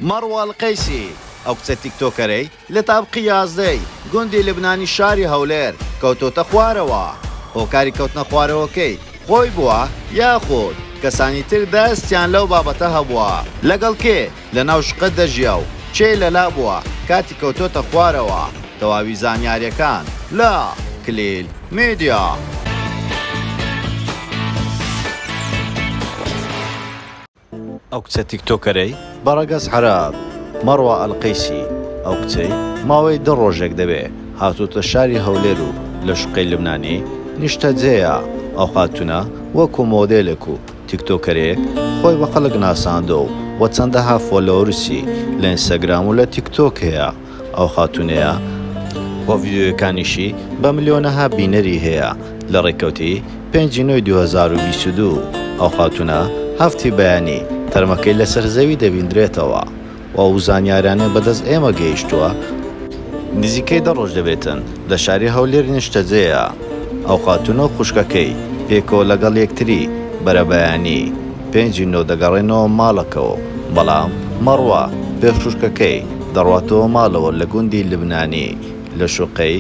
مەڕوان قەیسی، ئەو کچە تیکتۆکەرەی لە تابقی یازدە ی گوندی لبنانی شاری هەولێر کەوتۆتە خوارەوە، هۆکاری کەوتنە خوارەوەکەی خۆی بووە یاخود کەسانی تر دەستیان لەو بابەتە هەبووە؟ لەگەڵ کێ لە ناو شقە دەژیا و کێ لەلا بووە کاتی کەوتۆتە خوارەوە؟ تەواوی زانیاریەکان لە، کلیل میدیا. ئەو کچە تیکتۆکەرەی بە ڕەگەز حەرام، مەڕوا ئەلقەیسی، ئەو کچەی ماوەی دە ڕۆژێک دەبێ هاتۆتە شاری هەولێر و لە شوقەی لبنانی نیشتەجێیە، ئەو خاتوونە وەکو مۆدێلێک و تیکتۆکەرێک خۆی بە خەڵک ناساندووە و چەندەها فۆلۆورسی لە ئینستاگرام و لە تیکتۆک هەیە. ئەو خاتونەیە و ڤیدیۆیەکانیشی بە ملیۆنەها بینەری هەیە لە ڕێکەوتی پێنج ی نۆی دوو هەزار و بیست و دوو ئەو خاتونە هەفت ی بەیانی تەرمەکەی لەسەر زەوی دەبیندرێتەوە و ئەو زانیارانە بەدەست ئێمە گەیشتوە نزیکەی دە ڕۆژ دەبێتن لە شاری هەولێر نیشتەجێیە ئەو خاتونە و خوشکەکەی پێکەوە لەگەڵ یەکتری بەرەبەیانی. پێنجی نۆ دەگەڕێنەوە ماڵەکەوە و بەڵام مەڕوا، پێشووشکەکەی، دەڕواتەوە ماڵەوە لە گوندی لبنانی لە شوقەی،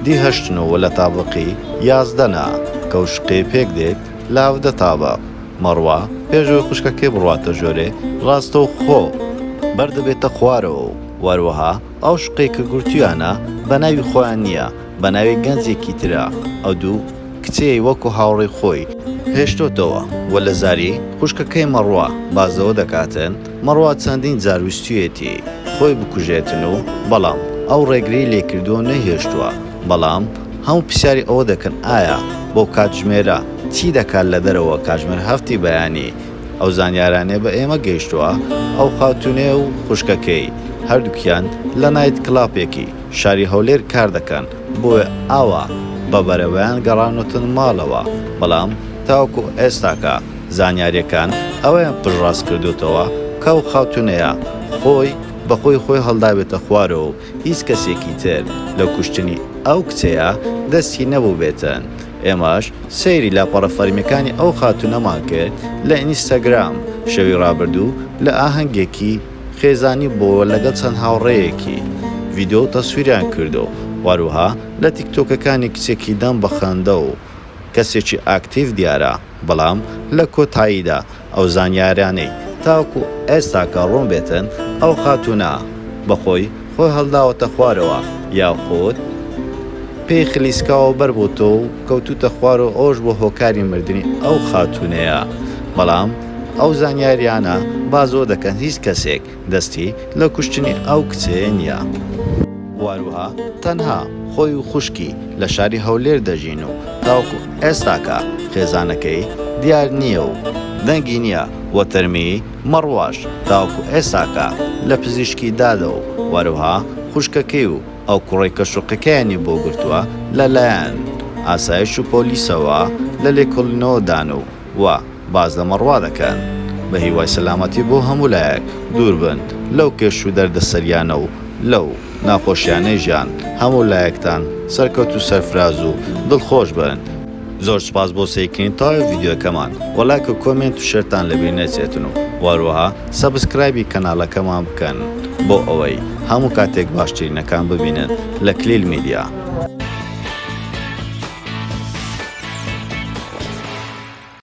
دی هەشت نۆ، وە لە تابقی، یازدە، نا، کە و شوقەی پێک دێت، لاڤدە تابق، مەڕوا، پێش ئەوەی خوشکەکەی بڕواتە ژۆرێ، ڕاستەو خۆ، بەر دەبێتە خوارەوە و وەروەها ئەو شوقەی کە گرتویانە بە ناوی خۆیان نیە، بە ناوی گەنجێکی ترا ئەو دوو کچەی وەکو هاوڕێی خۆی هێشتۆتەوە و لە زاری خوشکەکەی مەڕوا بازەوە دەکاتن، مەڕوا چەندین جار ویستویەتی خۆی بکوژێتن و بەڵام ئەو ڕێگری لێ کردوە و نەیهێشتوە بەڵام هەموو پرسیاری ئەوە دەکەن ئایا بەو کاتژمێرە چی دەکات لە دەرەوە کاتژمێر هەفتی بەیانی ئەو زانیارانەی بە ئێمە گەیشتوە ئەو خاتونەی و خوشکەکەی هەردوکیان لە نایت کڵاپێکی شاری هەولێر کار دەکەن بۆیە ئاوا بە بەرەبەیان گەڕانۆتن ماڵەوە بەڵام تاوەکو ئێستاکە زانیاریەکان ئەوەیان پشتڕاست کردۆتەوە کە ئەو خاتونەیە خۆی بە خۆی خۆی هەڵدابێتە خوارەوە و هیچ کەسێکی تر لە کوشتنی ئەو کچەیە دەستی نەبوبێتن ئێمەش سەیری لاپەڕە فەرمیەکانی ئەو خاتونەمان کرد لە ئینستاگرام شەوی ڕابردوو لە ئاهەنگێکی خێزانی بۆوە لەگەڵ چەند هاوڕێیەکی ڤیدیۆ و تەسویریان کردو هەروەها لە تیک تۆکەکانی کچێکی دەم بە خەندە و کەسێکی ئاکتیڤ دیارە بەڵام لە کۆتاییدا ئەو زانیاریانەی تاوەکو ئێستاکە ڕوون بێتن ئەو خاتوونە بە خۆی خۆی هەڵداوەتە خوارەوە یاخود پێی خلیسکاوە بەر بۆتۆ و کەوتووتە خوار و ئەوەش بووە هۆکاری مردنی ئەو خاتوونەیە بەڵام ئەو زانیاریانە بازۆ دەکەن هیچ کەسێک دەستی لە کوشتنی ئەو کچەیە نیە. واروها تەنها خۆی و خوشکی لە شاری هەولێر دەژین و تاوەکو ئێستاکە خێزانەکەی دیار نیە و دەنگی نیە وە تەرمی مەڕواش تاوەکو ئێستاکە لە پزیشکی دادە و واروها خوشکەکەی و ئەو کوڕەی کە شوقەکەیانی بۆ گرتوە لە لایەن ئاسایش و پۆلیسەوە لە لێکۆڵینەوە دان و و باس لە مەڕوا دەکەن. بە هیوای سەلامەتی بۆ هەموو لایەک، دوور بن لەو کێش و دەردەسەریانە و لەو ناخۆشیانەی ژیان، هەموو لایەکتان سەرکەوت و سەرفراز و دڵخۆش بن. زۆر سوپاس بۆ سەیرکردنی تەواوی ڤیدیۆکەمان وە لایک و کۆمێنت و شێرتان لەبیر نەچێتن و وەروەها سەبسکرایبی کەنالەکەمان بکەن بۆ ئەوەی هەموو کاتێک باشترینەکان ببینن لە کلیل میدیا.